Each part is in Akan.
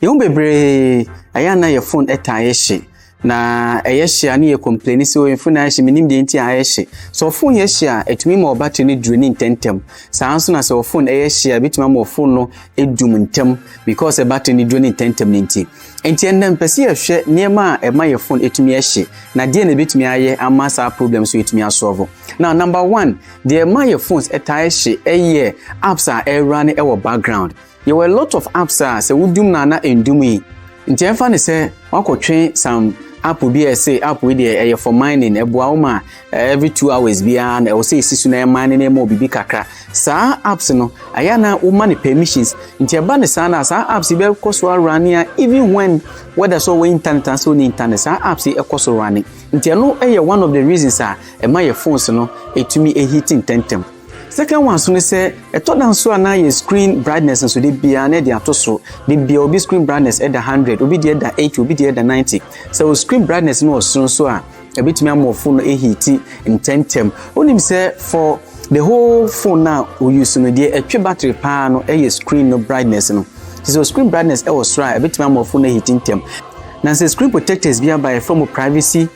Yɛn mu bebree, ɛyɛ a na yɛ phone ɛtaa yɛ hye. Na ɛyɛ hye a ne yɛ complaini sɛ o phone ayɛ hye, menim deɛ nti a ayɛ hye. Sɛ wo phone yɛ hye a, ɛtumi ma wo battery no draini ntɛmntɛm. Saa ara nso na sɛ wo phone ɛyɛ hye a, ɛbɛtumi ama wo phone no adum ntɛm because sɛ battery no draini ntɛmntɛm no nti. Nti ɛnnɛ mepɛ sɛ yɛhwɛ nneɛma a ɛma yɛ phone ɛtumi ɛhye, na deɛ na ɛbɛtumi ayɛ ama saa problem so yɛtumi asɔɔvo. Now number one, deɛ ɛma yɛ phones ɛtaa ɛhye ɛyɛ apps a ɛrunne ɛwɔ background. Yɛwɔ a lot of apps a sɛ wodum no a na ɛndum yi nti ɛmfa no sɛ woakɔtwe some app bi a ɛse app wei deɛ ɛyɛ for mining ɛboa wo ma every two hours biara na ɛwɔ sɛ ɛsi so na ɛyɛ mine na ɛma wo biribi kakra saa apps no ɛyɛ na woma no permissions nti ɛba no saa no a saa apps yi bɛkɔ so arane a even when whether sɛ ɔwɔ internet anaa sɛ ɔne internet saa apps yi ɛkɔ so rane nti ɛno ɛyɛ one of the reasons a ɛma yɛ phones no ɛtumi ɛhiti ntɛntɛm Second one nso ne sɛ, ɛtɔ da nso a na yɛ screen brightness nso de biara na ɛde ato so. De biara obi screen brightness ɛda hundred, obi deɛ ɛda eighty, obi deɛ ɛda ninety. Sɛ o screen brightness no wɔ soro nso a, ɛbɛtumi ama o phone no ahiiti ntɛmntɛm. Wonim sɛ for the whole phone no a o use no, deɛ ɛtwe battery paa no ɛyɛ screen no brightness no. Nti sɛ o screen brightness ɛwɔ soro a, ɛbɛtumi ama o phone no ahiiti ntɛm. Na sɛ screen protectors bi aba a, yɛfrɛ mo privacy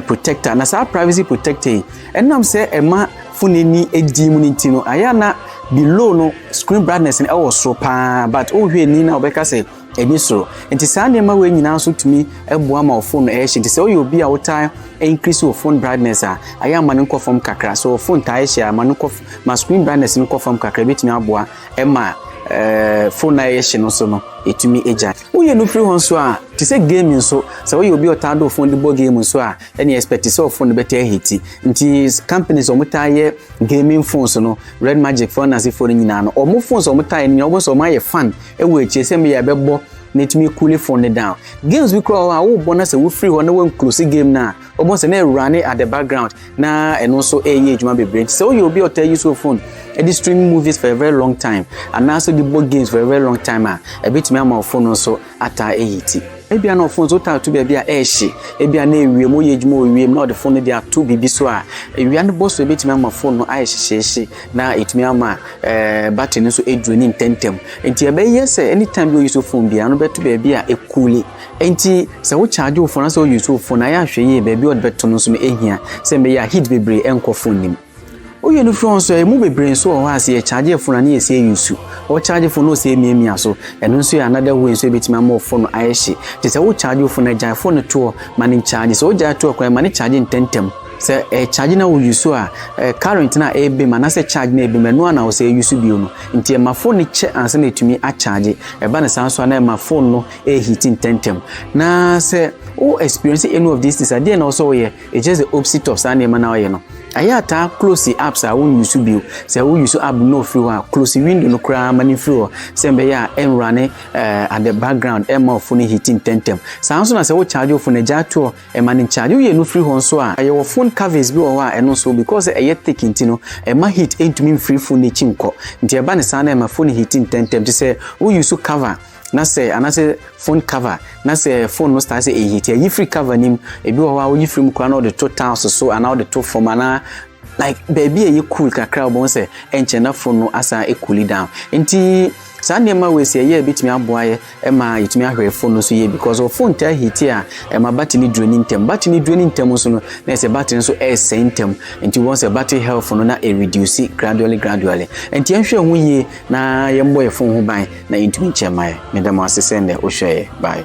protector. Na saa privacy protector yi, Ɛnam sɛ ɛma fon ani di mu no nti no ayɛ a na below no screen brightness no ɛwɔ soro paa but wohwɛ ani na wɔbɛka sɛ ɛni soro nti saa nneɛma wei nyinaa nso tumi ɛboa ma ɔfon no ɛhyɛ nti sɛ woyɛ obi a wotaa increase wɔ fon brightness a ayɛ ama no nkɔ fam kakra so fon taa ɛhyɛ a ma no kɔ ma screen brightness no kɔ fam kakra ebetumi aboa ɛma ɛɛ fon na ɛyɛ hyɛ no so no etumi egya woyɛ no firi hɔ nso a te sɛ game nso sɛ woyɛ obi a ɔtaa do fon de bɔ game nso a ɛne expect sɛ ɔfon no bɛtaa hiti nti companies ɔmo taa yɛ gaming phones no red magic phone ase phone nyinaa no ɔmo phones ɔmo taa yɛ no nyinaa ɔmo sɛ ɔmo ayɛ fan ɛwɔ akyire sɛ meyɛ ɛbɛbɔ na etumi cool phone no down games bi koraa hɔ a wobɔ na sɛ wofiri hɔ na wɔn close game no a ɔmo sɛ na ɛwura ne at the background na ɛno nso ɛyɛ adwuma bebree nti sɛ woyɛ obi a ɔtaa use your phone ɛde stream movies for a very long time anaasɛ de bɔ games for a very long time a ɛbɛtumi ama ɔfo no nso ataa ayi ti. Ebia na ɔfon so taa tu baabi a ɛhye, ebia na ewiem, woyɛ adwuma wɔ wiem na ɔde fon no de ato biribi so a, awia no bɔ so ebetumi ama fon no ayɛ hyehyeehye na etumi ama battery no nso adraini ntɛmntɛm. Enti ɛbɛyɛ sɛ anytime bi a oyusu fon biara no bɛto baabi a ɛkuuli. Enti sɛ wo charge wo fon anaasɛ oyusu wo fon a, yɛ a hwɛ yie baabi a ɔde bɛto no nso no ehia sɛnea ɛbɛyɛ a heat bebree ɛnkɔ fon no mu. Woyɛ no firi hɔ nso a, ɛmu bebree nso wɔ hɔ a, sɛ yɛkyaagye fon a, na yɛsɛ yɛ nsu. Wokyaagye fon na wosɛ yɛ miamia so. Ɛno nso yɛ another way nso a ɛbɛtumi ama wo fon no ayɛ hye. Nti sɛ wokyaagye wo fon a, gyae fon no to hɔ ma no nkyaagye. Sɛ wogyae to hɔ koraa a, ma no kyaagye ntɛntɛm. Sɛ ɛrekyaagye na wo use a, current no a ɛrebam anaasɛ charge no a ɛrebam, ɛno ara na wosɛ use bio no. Nti ɛma fon no kyɛ ansa na ɛtumi akyaagye. Ɛba no saa nso a, na ɛma fon no ɛreheat ntɛntɛm. Na sɛ wo experience any of these things a, deɛ na wosɛ woyɛ? It's just the opposite of saa nneɛma no a ɔyɛ no. Ayɛ a taa close apps a wo use bio. Sɛ wo use app no ofiri hɔ a, close window no koraa ma no mfiri hɔ sɛ mbɛyɛ a ɛnrane eh, at the background ɛmma wo phone heat ntɛntɛm. Saa nso na sɛ wo charge wo phone a gyaa to hɔ ɛma no ncharge. Woyɛ no firi hɔ nso a, yɛwɔ phone covers bi wɔ hɔ a ɛno nso because sɛ ɛyɛ thick nti no ɛmma heat ntumi mfiri phone no akyi nkɔ nti ɛba no saa na ɛma phone heat ntɛntɛm te sɛ wo use cover na sɛ anaasɛ phone cover na sɛ phone no star sɛ ɛyi ti ayi firi cover nim ebi wɔ hɔ a woyi firi mu koraa na ɔde to tiles so anaa ɔde to fam anaa like baabi a ɛyɛ cool kakra wɔn sɛ ɛnkyɛn na phone no asan cool down nti saa nneɛma wei sɛ ɛyɛ ebitumi aboa yɛ ɛma yɛtumi ahwɛ phone no so yie because wɔ phone taa hiti a ɛma battery no duro ne ntɛm battery no duro ne ntɛm nso no na ɛsɛ battery nso ɛresɛe ntɛm nti wɔn sɛ battery health no na ɛreduce gradually gradually nti yɛnhwɛ ho yie na yɛmmɔ yɛ phone ho ban Na entumi nkyɛ mmae. Meda mo ase sɛ nnɛ wohwɛeɛ. Bye.